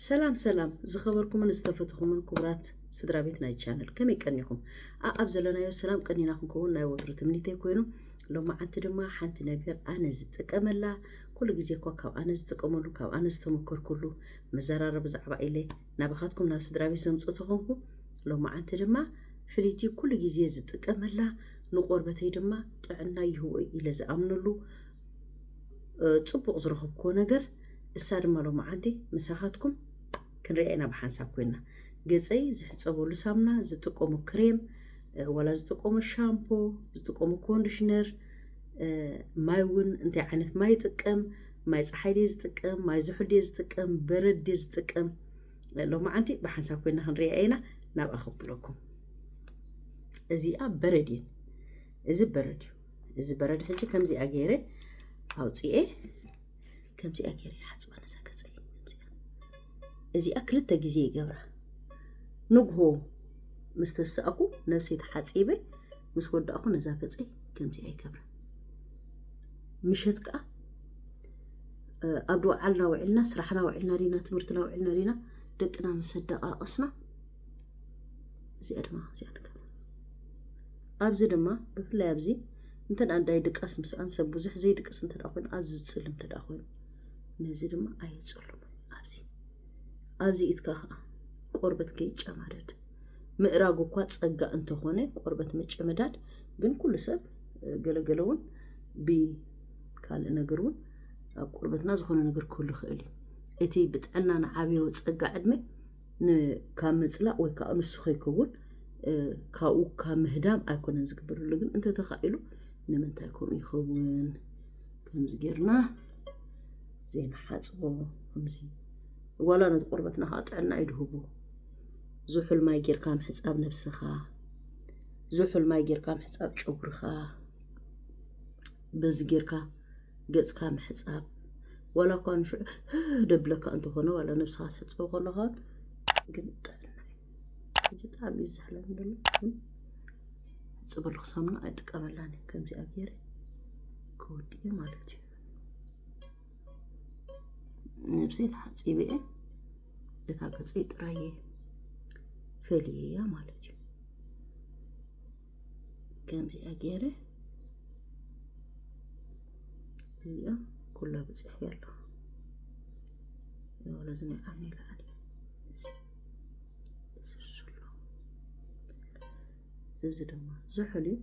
ሰላም ሰላም ዝኸበርኩምን ዝተፈትኹምን ክቡራት ስድራ ቤት ናይ ቻነል ከመይ ቀኒኹም ኣኣብ ዘለናዮ ሰላም ቀኒና ክንከውን ናይ ወትሩ ትምኒተይ ኮይኑ ሎማዓንቲ ድማ ሓንቲ ነገር ኣነ ዝጥቀመላ ኩሉ ግዜ እኳ ካብ ኣነ ዝጥቀመሉ ካብ ኣነ ዝተመከርኩሉ መዘራረብ ብዛዕባ ኢለ ናባኻትኩም ናብ ስድራቤት ዘምጽኦ ተኾንኩ፣ ሎማዓንቲ ድማ ፍልይቲ ኩሉ ግዜ ዝጥቀመላ ንቆርበተይ ድማ ጥዕና ይህቦ ኢለ ዝኣምነሉ ጽቡቕ ዝረኸብክዎ ነገር እሳ ድማ ሎማዓንቲ ምሳኻትኩም ክንሪኣ ኢና ብሓንሳብ ኮይና ገጸይ ዝሕጸበሉ ሳምና ዝጥቀሞ ክሬም ወላ ዝጥቀሞ ሻምፖ ዝጥቀሞ ኮንዲሽነር ማይ እውን እንታይ ዓይነት ማይ ይጥቀም ማይ ፀሓይ ድየ ዝጥቀም ማይ ዝሑል ድየ ዝጥቀም በረድ ድየ ዝጥቀም ሎማዓንቲ ብሓንሳብ ኮይና ክንሪኣ ኢና ናብኣ ከብለኩም እዚኣ በረድ እየን እዚ በረድ እዩ እዚ በረድ ሕጂ ከምዚኣ ገይረ ኣውፅኤ ከምዚኣ ገይረ ይሓፅባ ነዛ ገፀ እዚኣ ክልተ ግዜ ይገብራ ንግሆ ምስ ተሳእኩ ነብሰይ ተሓፂበ ምስ ወዳእኩ ነዛ ገፀይ ከምዚኣ ይገብራ ምሸት ከዓ ኣብ ዓልና ውዒልና ስራሕና ውዒልና ዲና ትምህርትና ውዒልና ዲና ደቅና ምስ ኣደቃቀስና እዚኣ ድማ እዚኣ ንገብር ኣብዚ ድማ ብፍላይ ኣብዚ እንተ ኣዳይ ድቃስ ምስኣን ሰብ ብዙሕ ዘይድቅስ እንተ ኮይኑ ኣብዚ ዝፅል እንተ ኮይኑ ነዚ ድማ ኣየፅሉም ኣብዚ ኣብዚ ኢትካ ከዓ ቆርበት ከይጨማደድ ምእራግ እኳ ፀጋ እንተኾነ ቆርበት መጨመዳድ ግን ኩሉ ሰብ ገለ ገለ እውን ብካልእ ነገር እውን ኣብ ቆርበትና ዝኾነ ነገር ክህሉ ይኽእል እዩ እቲ ብጥዕና ንዓብዮ ፀጋ ዕድመ ካብ ምፅላእ ወይ ከዓ ንሱ ከይከውን ካብኡ ካብ ምህዳም ኣይኮነን ዝግበረሉ ግን እንተተኻኢሉ ንምንታይ ከምኡ ይኸውን ከምዚ ጌርና ዘይንሓፅቦ ከምዚ ዋላ ነቲ ቆርበትና ከዓ ጥዕና እዩ ድህቡ ዝሑል ማይ ጌርካ ምሕፃብ ነብስኻ ዝሑል ማይ ጌርካ ምሕጻብ ጨጉርኻ በዚ ጌርካ ገጽካ ምሕጻብ ዋላ እኳ ንሽዑ ደብለካ እንተኾነ ዋላ ነብስኻ ትሕጽብ ከለኻ ግን ጥዕና እዩ ብጣዕሚ እዩ ዝሕለን ደሎ ግን ሕጽበሉ ክሳምና ኣይጥቀመላን እዩ ከምዚኣ ገይረ ክወድእ እዩ ማለት እዩ ነብሰይ ተሓጺበ እየ እታ ገጸይ ጥራይ እየ ፈልየያ ማለት እዩ ከምዚኣ ገይረ እዚኣ ኩላ ብፅሕፊ ኣሎ ወለዚ ናይ ዓይኒ ላዕሊ ዝስሎ እዚ ድማ ዝሑል እዩ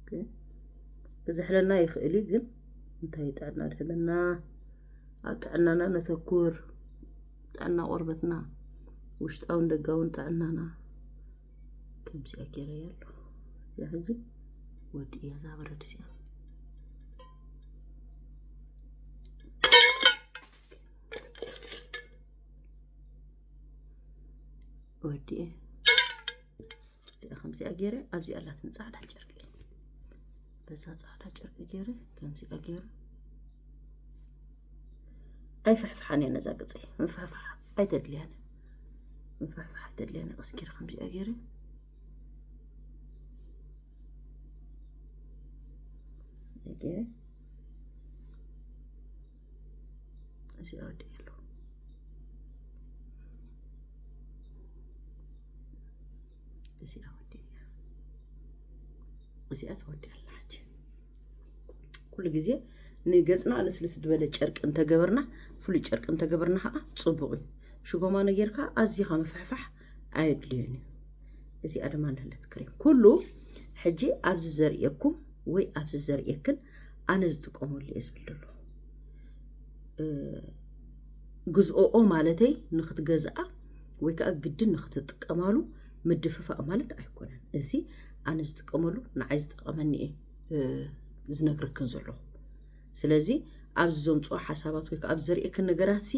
ግን ክዝሕለና ይኽእል እዩ ግን እንታይ ጥዕና ድሕልና ኣብ ጥዕናና ነተኩር፣ ጥዕና ቆርበትና፣ ውሽጣውን ደጋውን ጥዕናና ከምዚ ኣገረ ያለ እዚኣ ሕጂ ወዲ እያ እዛ በረድ እዚኣ ወዲ እየ እዚኣ ከምዚኣ ገይረ ኣብዚኣ ኣላትኒ ፃዕዳ ጨርቂ በዛ ፃዕዳ ጨርቂ ገይረ ከምዚኣ ገይረ ኣይፍሕፍሓን እየ ነዛ ቅፅይ ምፍሕፋሕ ኣይተድልያን ምፍሕፋሕ ኣይተድልያን ቀስኪር ከምዚኣ ገይረ ገይረ እዚኣ ትወድያላ ሓጂ ኩሉ ግዜ ንገፅና ልስልስ ዝበለ ጨርቂ እንተገበርና ፍሉይ ጨርቂ እንተገበርና ከዓ ፅቡቅ እዩ ሽጎማኖ ጌርካ ኣዝኻ ምፍሕፋሕ ኣየድልዮን እዩ እዚኣ ድማ ንህለት ክሬም ኩሉ ሕጂ ኣብዚ ዘርእየኩም ወይ ኣብዚ ዘርእየክን ኣነ ዝጥቀመሉ እየ ዝብል ዘለኹ ግዝኦኦ ማለተይ ንክትገዝኣ ወይ ከዓ ግድን ንክትጥቀማሉ ምድፍፋእ ማለት ኣይኮነን እዚ ኣነ ዝጥቀመሉ ንዓይ ዝጠቐመኒ እየ ዝነግረክን ዘለኹ ስለዚ ኣብዚ ዘምጽኦ ሓሳባት ወይ ከኣ ኣብ ዘርእየክን ነገራትሲ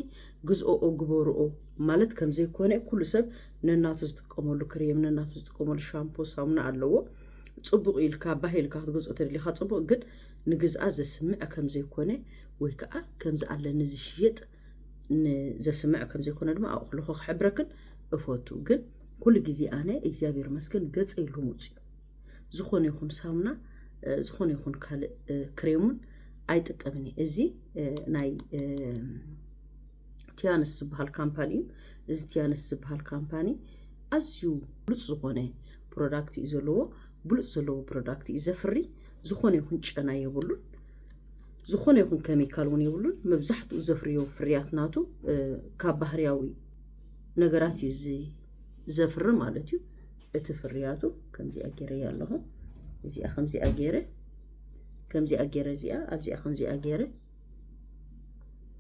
ግዝኦኦ ግበርኦ ማለት ከም ዘይኮነ ኩሉ ሰብ ነናቱ ዝጥቀመሉ ክሬም ነናቱ ዝጥቀመሉ ሻምፖ ሳሙና ኣለዎ ጽቡቕ ኢልካ ባህ ኢልካ ክትገዝኦ ተደሊኻ ጽቡቕ ግን ንግዝኣ ዘስምዕ ከም ዘይኮነ ወይ ከኣ ከምዚ ኣለኒ ዝሽየጥ ንዘስምዕ ከም ዘይኮነ ድማ ኣብኡ ከለኹ ክሕብረክን እፈቱ ግን ኩሉ ግዜ ኣነ እግዚኣብሔር መስገን ገጸ ኢሉ ምጽኡ ዝኾነ ይኹን ሳሙና ዝኾነ ይኹን ካልእ ክሬሙን ኣይጥቀምን እየ እዚ ናይ ቲያንስ ዝበሃል ካምፓኒ እዩ እዚ ቲያንስ ዝበሃል ካምፓኒ ኣዝዩ ብሉፅ ዝኾነ ፕሮዳክት እዩ ዘለዎ ብሉፅ ዘለዎ ፕሮዳክት እዩ ዘፍሪ ዝኾነ ይኹን ጨና የብሉን ዝኾነ ይኹን ኬሚካል እውን የብሉን መብዛሕትኡ ዘፍርዮ ፍርያት ናቱ ካብ ባህርያዊ ነገራት እዩ ዘፍሪ ማለት እዩ እቲ ፍርያቱ ከምዚኣ ገይረያ ኣለኹ እዚኣ ከምዚኣ ገይረ ከምዚኣ ገይረ እዚኣ ኣብዚኣ ከምዚኣ ገይረ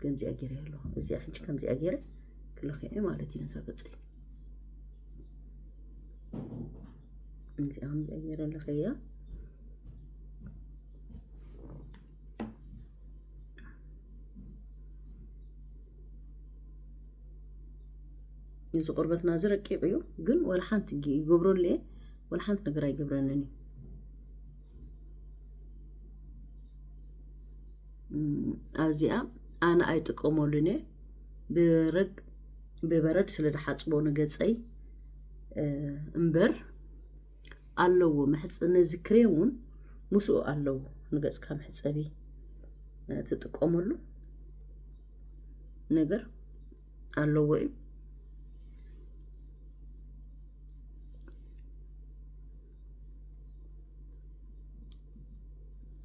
ከምዚኣ ገይረ ኣለኹ እዚኣ ሕጂ ከምዚኣ ገይረ ክለኽዐ ማለት እዩ ነዛ ገፀይ እዚኣ ከምዚኣ ገይረ ኣለኸያ እዚ ቁርበትና እዚ ረቂቕ እዩ፣ ግን ወላ ሓንቲ ይገብረሉ እየ ወላ ሓንቲ ነገር ኣይገብረንን እዩ። ኣብዚኣ ኣነ ኣይጥቀመሉን እየ ብረድ ብበረድ ስለ ዝሓፅቦ ንገፀይ እምበር ኣለዎ መሕፅ ነዚ ክሬም እውን ምስኡ ኣለዎ ንገፅካ መሕፀቢ ትጥቀመሉ ነገር ኣለዎ እዩ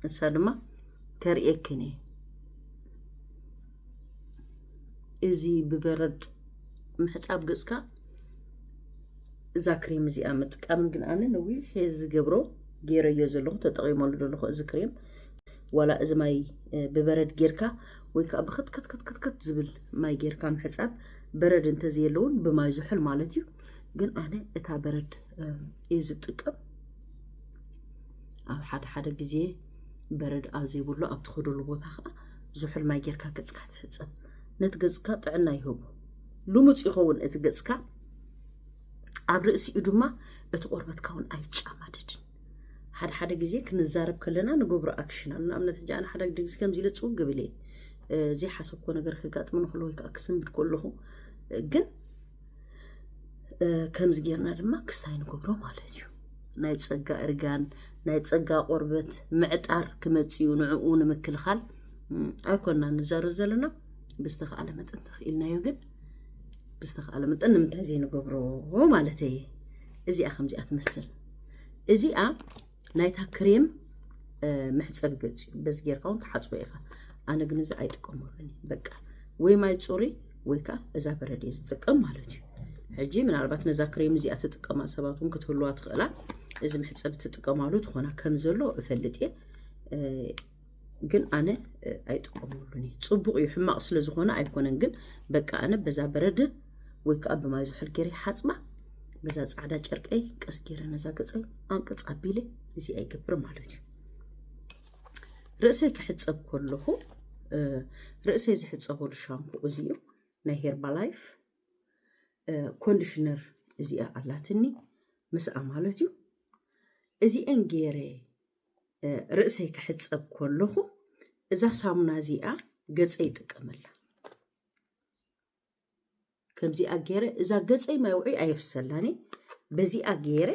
እሳ ድማ ተርእየክን እየ እዚ ብበረድ ምሕፃብ ገፅካ እዛ ክሬም እዚኣ ምጥቃም ግን ኣነ ነዊሕ ዝገብሮ ገይረዮ ዘለኹ ተጠቒመሉ ዘለኹ እዚ ክሬም ዋላ እዚ ማይ ብበረድ ጌርካ ወይ ከዓ ብክትክትክትክት ዝብል ማይ ጌርካ ምሕፃብ በረድ እንተዘየለውን ብማይ ዝሑል ማለት እዩ ግን ኣነ እታ በረድ እየ ዝጥቀም ኣብ ሓደ ሓደ ግዜ በረድ ኣብ ዘይብሉ ኣብ ትኸደሉ ቦታ ከዓ ዝሑል ማይ ጌርካ ገፅካ ትሕፀብ ነቲ ገፅካ ጥዕና ይህቡ ልሙፅ ይኸውን እቲ ገፅካ ኣብ ርእሲኡ ድማ እቲ ቆርበትካ እውን ኣይጫማደድን ሓደ ሓደ ግዜ ክንዛረብ ከለና ንገብሮ ኣክሽን ኣሎ ንኣብነት ሕጂ ኣነ ሓደ ግዜ ከምዚ ኢለ ፅው ግብል እየ ዘይሓሰብኮ ነገር ከጋጥም ንክሎ ወይ ከዓ ክስምድ ከለኹ ግን ከምዚ ጌርና ድማ ክስታይ ንገብሮ ማለት እዩ ናይ ፀጋ እርጋን ናይ ፀጋ ቆርበት ምዕጣር ክመፅኡ ንዕኡ ንምክልኻል ኣይኮና ንዛረብ ዘለና ብዝተኽኣለ መጠን ተኽኢልናዮ ግን ብዝተኸኣለ መጠን ንምንታይ ዘይንገብሮ ማለት እየ እዚኣ ከምዚኣ ትመስል እዚኣ ናይታ ክሬም መሕፀቢ ገፅ እዩ በዚ ጌርካ እውን ትሓፅቦ ኢኻ ኣነ ግን እዚ ኣይጥቀመሉን በቃ ወይ ማይ ፅሩይ ወይ ከዓ እዛ በረድ እየ ዝጥቀም ማለት እዩ ሕጂ ምናልባት ነዛ ክሬም እዚኣ ትጥቀማ ሰባት እውን ክትህልዋ ትኽእላ እዚ መሕፀቢ ትጥቀማሉ ትኾና ከም ዘሎ እፈልጥ እየ ግን ኣነ ኣይጥቀመሉን እዩ ፅቡቅ እዩ ሕማቅ ስለዝኾነ ኣይኮነን ግን በቃ ኣነ በዛ በረደ ወይ ከዓ ብማይ ዝሑል ገይረ ሓፅባ በዛ ፃዕዳ ጨርቀይ ቀስ ገይረ ነዛ ገፀይ ኣንቅፅ ኣቢለ እዚ ኣይገብር ማለት እዩ ርእሰይ ክሕፀብ ከለኹ ርእሰይ ዝሕፀበሉ ሻምፖ እዚ እዩ ናይ ሄርባ ላይፍ ኮንዲሽነር እዚኣ ኣላትኒ ምስኣ ማለት እዩ እዚአን ገይረ ርእሰይ ክሕጸብ ከለኹ እዛ ሳሙና እዚኣ ገጸይ ይጥቀመላ ከምዚኣ ገይረ እዛ ገጸይ ማይ ውዑይ ኣየፍሰላኒ በዚኣ ገይረ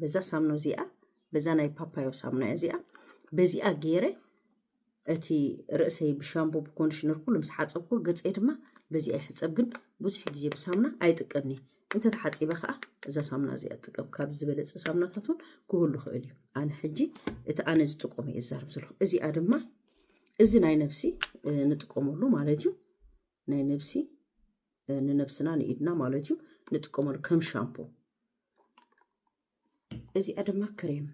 በዛ ሳሙና እዚኣ በዛ ናይ ፓፓዮ ሳሙና እዚኣ በዚኣ ገይረ እቲ ርእሰይ ብሻምቦ ብኮንዲሽነር ኩሉ ምስ ሓፀብኩ ገፀይ ድማ በዚ ኣይሕፀብ ግን ብዙሕ ግዜ ብሳሙና ኣይጥቀምን እየ እንተተሓፂበ ከዓ እዛ ሳሙና እዚኣ ጥቀም ካብ ዝበለፀ ሳሙናታት እውን ክህሉ ይኽእል እዩ ኣነ ሕጂ እቲ ኣነ ዝጥቀሙ እየ ዝዛርብ ዘለኹ እዚኣ ድማ እዚ ናይ ነብሲ ንጥቀመሉ ማለት እዩ ናይ ነብሲ ንነብስና ንኢድና ማለት እዩ ንጥቀመሉ ከም ሻምፖ እዚኣ ድማ ክሬም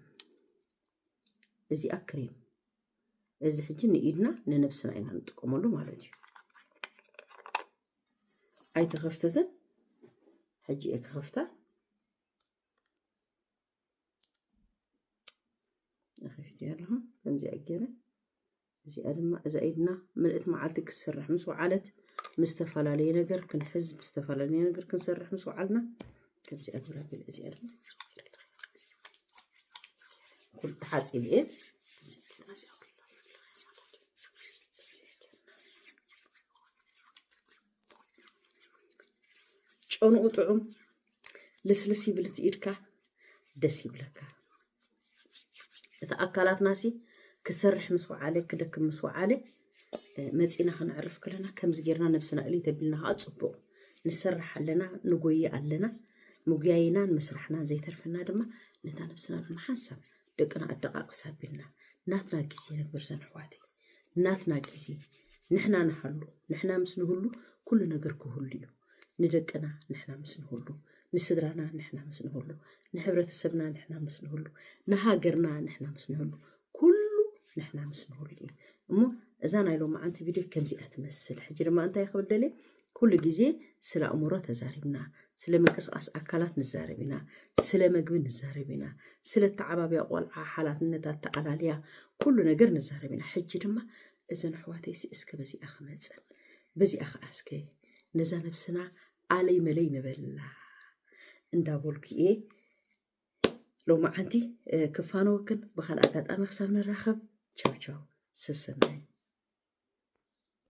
እዚኣ ክሬም እዚ ሕጂ ንኢድና ንነብስና ኢና ንጥቀመሉ ማለት እዩ ኣይተኸፍተትን ሕጂ እየ ክኸፍታ ከፊት ያለሁ ከምዚኣ ገይረ እዚኣ ድማ እዛ ኢድና ምልእት መዓልቲ ክትሰርሕ ምስ ወዓለት ምስ ዝተፈላለየ ነገር ክንሕዝ ምስ ዝተፈላለየ ነገር ክንሰርሕ ምስ ወዓልና ከምዚ ኣግብራ ቢል እዚኣ ድማ ኩሉ ተሓፂብ እየ ጨንኡ ጥዑም ልስልስ ይብል እቲ ኢድካ ደስ ይብለካ እቲ ኣካላትና ሲ ክሰርሕ ምስ ወዓለ ክደክም ምስ ወዓለ መፂና ክንዕርፍ ከለና ከምዚ ጌርና ነብስና እልይ ተቢልና ከዓ ፅቡቅ ንሰርሕ ኣለና ንጎይ ኣለና ምጉያይናን ምስራሕናን ዘይተርፈና ድማ ነታ ነብስና ድማ ሓንሳብ ደቅና ኣደቃቅስ ኣቢልና ናትና ግዜ ነበር ዘንሕዋተይ ናትና ግዜ ንሕና ንሃሉ ንሕና ምስ ንህሉ ኩሉ ነገር ክህሉ እዩ ንደቅና ንሕና ምስ ንህሉ ንስድራና ንሕና ምስ ንህሉ ንሕብረተሰብና ንሕና ምስ ንህሉ ንሃገርና ንሕና ምስ ንህሉ ኩሉ ንሕና ምስ ንህሉ እዩ እሞ እዛ ናይ ሎማዓንቲ ቪድዮ ከምዚኣ ትመስል ሕጂ ድማ እንታይ ክብል ደልየ ኩሉ ግዜ ስለ ኣእምሮ ተዛሪብና፣ ስለ ምንቅስቓስ ኣካላት ንዛረብ ኢና፣ ስለ መግቢ ንዛረብ ኢና፣ ስለ እተዓባብያ ቆልዓ ሓላፍነት ኣተኣላልያ ኩሉ ነገር ንዛረብ ኢና። ሕጂ ድማ እዘን ኣሕዋተይሲ እስከ በዚኣ ክመጽእ፣ በዚኣ ከኣ እስከ ነዛ ነብስና ኣለይ መለይ ንበላ እንዳበልኩ እየ ሎማዓንቲ ክፋነወክን። ብኻልእ ኣጋጣሚ ክሳብ ንራኸብ ቻው ቻው ሰሰናዩ።